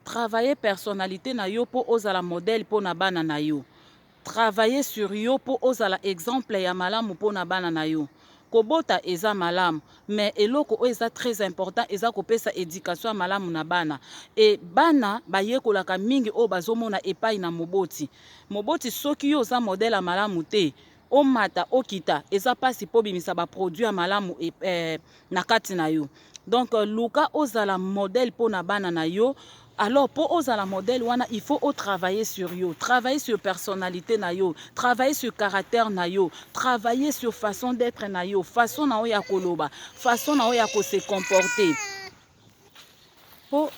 Travailler personnalite na yo po ozala modèle po na bana na yo. Travailler sur yo po ozala exemple ya malamu po na bana na yo. Kobota eza malamu mais eloko oyo eza très important eza kopesa education ya malamu na bana et bana bayekolaka mingi oyo bazomona epayi na moboti. Moboti soki yo oza modèle ya malamu te, omata okita eza pasi po bimisa ba produit ya malamu eh, na kati na yo donc euh, luka ozala modèle po na bana na yo alors po ozala modèle wana il faut o travailler sur yo travailler sur personnalité na yo travailler sur caractère na yo travailler sur façon d'être na yo façon na yo ya koloba façon na yo ya ko se comporter po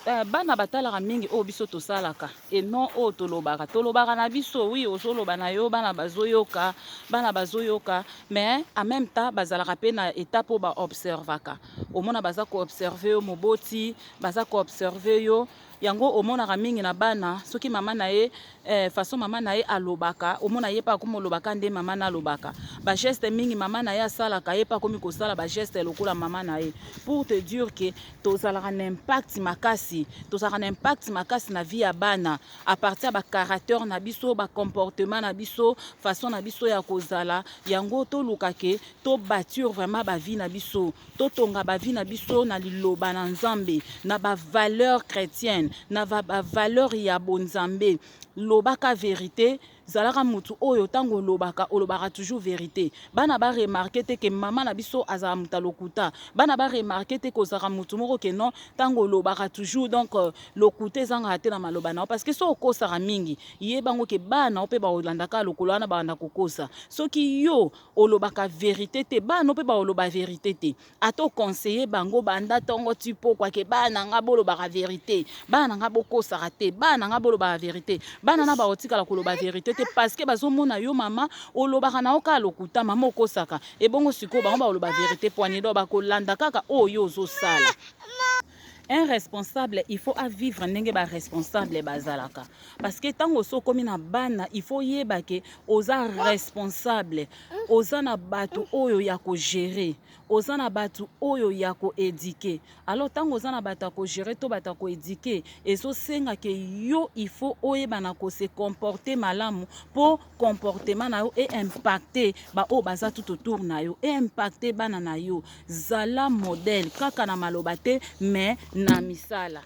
eh, bana batalaka mingi oyo biso tosalaka et non oyo tolobaka tolobaka na biso oui ozoloba na yo bana bazoyoka bana bazoyoka mais en même temps bazalaka pe na état po baobservaka omona baza koobserve yo moboti baza koobserve yo Yango omonaka mingi na bana soki mama na ye eh, façon mama na ye alobaka omona ye pe akomi olobaka nde mama na alobaka ba geste mingi mama na ye asalaka ye pe akomi kosala ba geste lokola mama na ye pour te dire que tozalaka na impact makasi tozalaka na impact makasi na vie ya bana à partir ya ba caractère na biso ba comportement na biso façon na biso ya kozala yango toluka ke to bâtir vraiment ba vie na biso totonga ba vie na biso na liloba na nzambe na ba valeur chretienne na ba valeur ya bonzambe lobaka verite zalaka motu oyo ntango olobaka olobaka toujours verite bana baremarke te ke mama na biso azala moto ya lokuta bana baremarke te kozalaka motu moko ke non ntango olobaka toujours donc euh, lokuta ezangaka te na maloba na yo parce que soki okosaka mingi ye bango ke bana yo mpe baolandaka lokolo wana banda kokosa soki yo olobaka verite te bana mpe baoloba verite te ata oconseille bango banda ntongo ti pokwa ke bana na ngai bolobaka verite bana na ngai bokosaka te bana na ngai bolobaka verite bana na baotikala koloba verite te parceke bazomona yo mama olobaka na yo kaka lokuta mama okosaka ebongo sikoyo bango baoloba verite poinedo bakolanda kaka oyo yo ozosala un responsable il faut a vivre ndenge ba responsable bazalaka parce que tango so komi na bana il faut yeba ke oza responsable oza na bato oyo ya ko gérer oza na bato oyo ya ko éduquer alors tango oza na bato ya ko gérer to bato ya ko éduquer ezosenga ke yo il faut oyeba na ko se comporter malamu po comportement na yo e impacte baoyo baza tout autour na yo e impacte bana na yo zala modèle kaka na maloba te mais na misala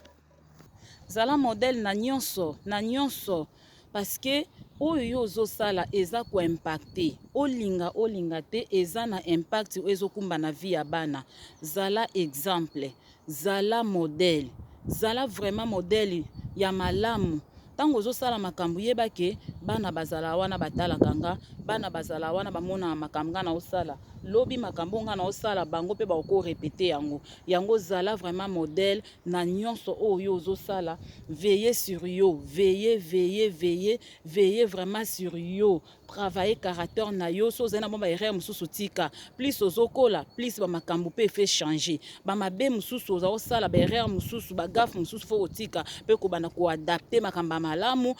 zala modèle na nyonso na nyonso parce que oyo yo ozosala eza koimpacte olinga olinga te eza na impact oyo ezokumba na vie ya bana zala exemple Zala model. Zala vraiment model ya malamu. Tango ozo sala makambo yeba ke bana bazala wana ba talaka nga, bana bazala wana ba mona makambo nga nao sala. Lobi makambo oyo nga nao sala bango pe bako ko repeter yango. Yango zala vraiment model na nionso oyo yo ozo sala. Veiller sur yo. Veiller, veiller, veiller, veiller vraiment sur yo. travailler caractère na yo so ozali na mwa baerreur mosusu tika plus ozokola plus bamakambo mpe efe changer bamabe mosusu oza kosala baerreur mosusu bagafe mosusu fo kotika mpe kobanda koadapte makambo ya malamu ba